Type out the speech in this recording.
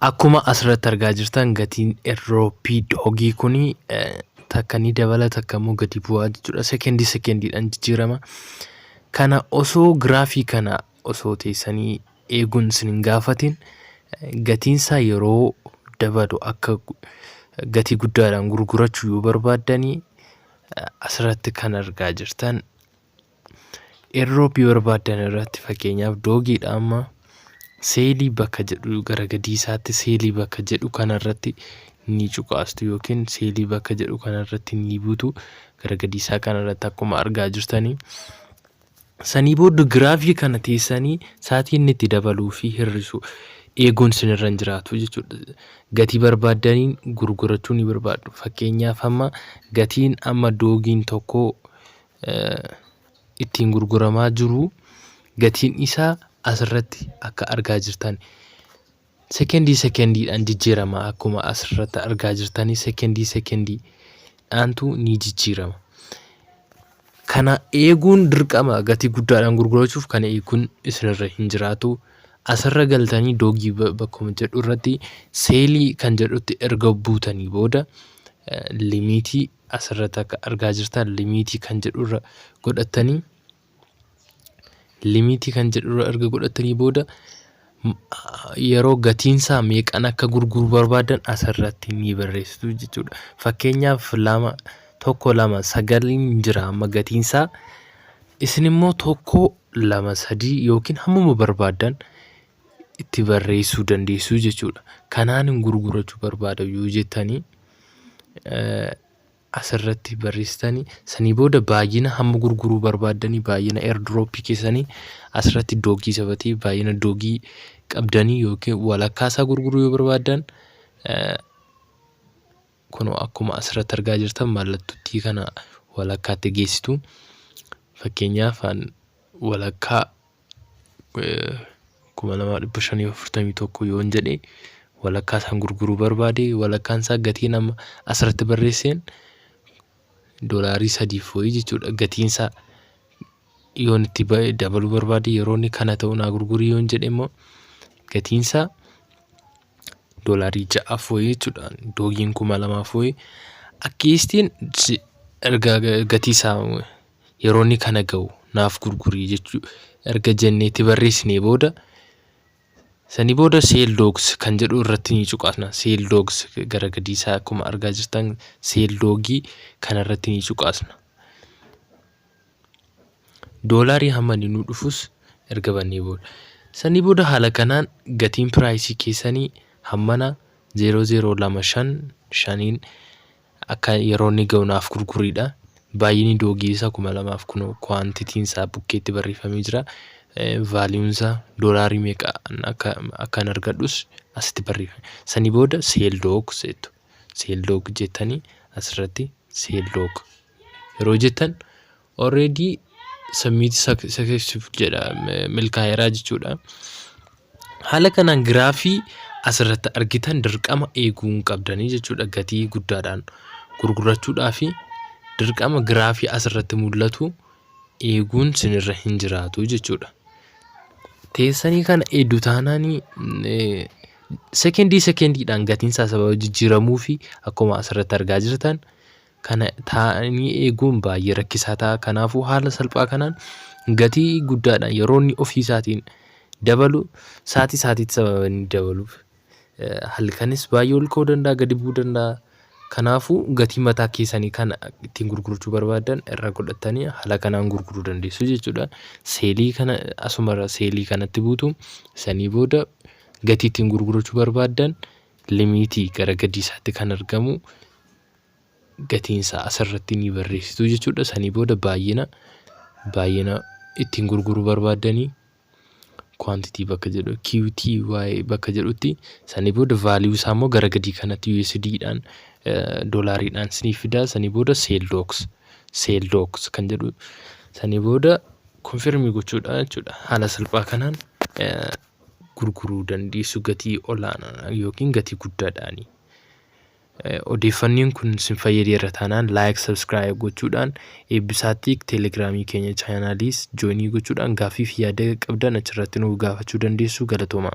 Akkuma asirratti argaa jirtan gatiin erroopii doogii kun takka ni dabala takka immoo gadi bu'aa jechuudha. Sekendii sekendiidhaan jijjiirama. Kana osoo giraafii kana osoo teessanii eeguun isin hin gaafatin gatiinsaa yeroo dabalu akka gatii guddaadhaan gurgurachuu yoo barbaaddanii asirratti kan argaa jirtan Airdrop barbaaddan irratti fakkeenyaaf doogiidha amma seelii bakka jedhu gara gadiisaatti seelii bakka jedhu kanarratti ni cuqaastu yookiin seelii bakka jedhu kanarratti ni butu gara gadiisaa kanarratti akkuma argaa jirtanii. Sanii booda giraafii kana teessanii saatii inni itti dabaluu fi hir'isu eeguun sinirra hin jiraatu jechuudha. Gatii barbaaddaniin gurgurachuu ni barbaaddu. Fakkeenyaaf amma gatiin amma doogiin tokko ittiin gurguramaa jiru gatiin isaa asirratti akka argaa jirtan sekendii sekendiidhaan jijjiirama akkuma asirratti argaa jirtanii sekendii sekendiidhaantu ni jijjiirama. Kana eeguun dirqama gatii guddaadhaan gurgurachuuf kana eeguun isinirra hin jiraatu. Asirra galtanii doogii bakkuma jedhu irratti seelii kan jedhutti erga buutanii booda limiitii asirratti akka argaa jirtan limiitii kan jedhu irra godhattanii limiitii kan jedhu irra erga godhattanii booda yeroo gatiinsaa meeqan akka gurguru barbaadan asirratti ni barreessitu jechuudha. Fakkeenyaaf lama tokko lama sagaliin jira amma gatiinsaa isin immoo tokko lama sadii yookiin hammuma barbaadan itti barreessuu dandeessuu jechuudha. Kanaan hin gurgurachuu barbaada yoo jettanii asirratti barreessitanii sanii booda baay'ina hamma gurguruu barbaaddanii baay'ina airdrop keessanii asirratti doogii sabatee baay'ina doogii qabdanii yookiin walakkaa isaa gurguruu yoo barbaaddan kun akkuma asirratti argaa jirtan mallattootti kana walakkaatti geessitu. Fakkeenyaaf walakkaa kuma lamaa dhibba shanii fi afurtamii tokko yoon jedhe walakkaa isaan gurguruu barbaade walakkaan isaa gatii nama asirratti barreesseen doolaarii sadiif wayii jechuudha gatiin isaa yoon itti ba'e dabaluu barbaade yeroo inni kana ta'u naa gurgurii yoon jedhe immoo gatiin isaa doolaarii ja'aaf wayii jechuudha doogiin kuma lamaaf wayii akkiistiin ergaa gatii isaa yeroo inni kana ga'u naaf gurguri jechuu erga jennee itti barreessinee booda sanii booda seel doogs kan jedhu irratti ni cuqaasna seel doogs gara gadii isaa akkuma argaa jirtan seel doogii kana irratti ni cuqaasna doolaarii hamma inni nu dhufus erga bannee booda sanii booda haala kanaan gatiin piraayisii keessanii hammana 0025 shaniin Akka yeroo inni ga'u naaf gurguriidha. Baay'inni doogii isaa 2000 kunoo kuwaantitiin isaa bukkeetti barreeffamee jira. Vaaliyuun isaa doolaarii meeqa akka akkan argadhus asitti barreeffame. Sanii booda seel doog jettu. Seel doog jettanii asirratti seel doog yeroo jettan Already submit successful jedha milkaa'eeraa jechuudha. Haala kanaan giraafii asirratti argitan dirqama eeguu hin qabdanii jechuudha gatii guddaadhaan gurgurachuudhaa fi dirqama giraafii asirratti mul'atu eeguun sinirra hin jiraatu jechuudha. Teessanii kana eedduu taanaanii sekendii sekendiidhaan gatiin isaa sababa jijjiiramuu fi akkuma asirratti argaa jirtan kana taa'anii eeguun baay'ee rakkisaa ta'a. Kanaafuu haala salphaa kanaan gatii guddaadhaan yeroo inni ofii isaatiin dabalu saatii saatiitti sababa inni dabaluuf halkanis baay'ee ol ka'uu danda'a gadi bu'uu danda'a. Kanaafuu gatii mataa keessanii kana ittiin gurgurachuu barbaadan irra godhattanii haala kanaan gurguruu dandeessu jechuudha. Seelii kana asumarra seelii kanatti buutu sanii booda gatii ittiin gurgurachuu barbaadan limiitii gara gadii isaatti kan argamu gatiin isaa asirratti ni barreessitu jechuudha. Sanii booda baay'ina baay'ina ittiin gurguruu barbaaddanii quantity bakka jedhu QTY bakka jedhutti sanii booda value isaa immoo gara gadii kanatti USD dhaan doolaariidhaan sinii fidaa sanii booda sale docs sale docs kan jedhu sanii booda confirm gochuudha jechuudha. Haala salphaa kanaan gurguruu dandeessu gatii olaanaa yookiin gatii guddaadhaani. Odeeffanniin kun sin fayyadeera taanaan like subscribe gochuudhaan eebbisaa tiik teelegiraamii keenya chaanaaliis jooinii gochuudhaan gaaffii fi yaada qabdan achirratti nuuf gaafachuu dandeessu galatoomaa.